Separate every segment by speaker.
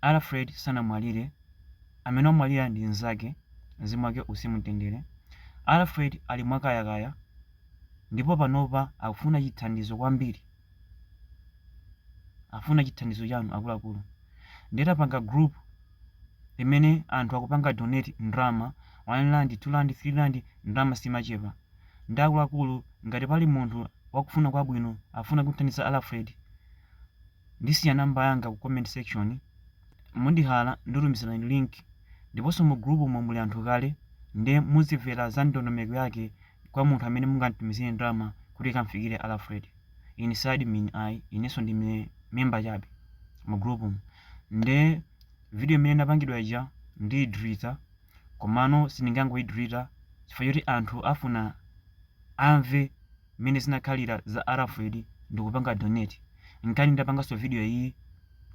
Speaker 1: Alfred sanamwalire, amene wamwalira ndi mnzake, mzimu wake uuse mu mtendere. Alfred ali mwakayakaya ndipo panopa akufuna chithandizo kwambiri, akufuna chithandizo chanu akuluakulu. Ndiye tapanga group limene anthu akupanga donate ndalama, 1 rand, 2 rand, 3 rand, ndalama simachepa. Nde akuluakulu ngati pali munthu wakufuna kwabwino akufuna kumthandiza Alfred, ndisiya number yanga ku comment section mundihala ndikutumizirani link ndiponso mu group umo muli anthu kale nde muzimvera za ndondomeko yake kwa munthu amene mungamtumizire ndalama kuti ikamfikire Alfred ine si admin inenso ndi me- member chabe mu group umo nde video imene inapangidwa ija ndiyidilita komano sindingangoyidilita chifukwa choti anthu afuna amve mmene zinakhalira za Alfred ndikupanga donate nkhani ndapanganso video iyi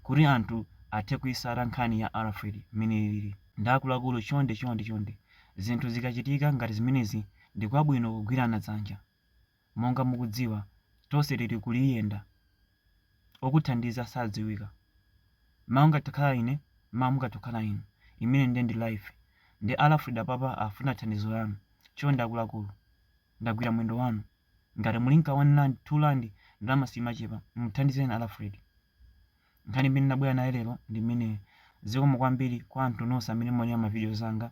Speaker 1: kuti anthu athe kuitsata nkhani ya Alfred mmene ilili nde akuluakulu chonde chonde chonde zinthu zikachitika ngati zimenezi ndi kwabwino kugwirana dzanja monga mukudziwa tonse tili kuliyenda okuthandiza sadziwika mawa ndingathe kukhala ine mawa mungathe kukhala inu imeneyo nde ndi life nde Alfred apapa afuna thandizo lanu chonde akuluakulu ndagwira mwendo wanu ngati muli nka 1 rand 2 rand ndalama simachepa muthandizeni Alfred nkhani imene ndabwera nayo lero ndi imeneyo zikomo kwambiri kwa anthu nonse amene muonera ma videos anga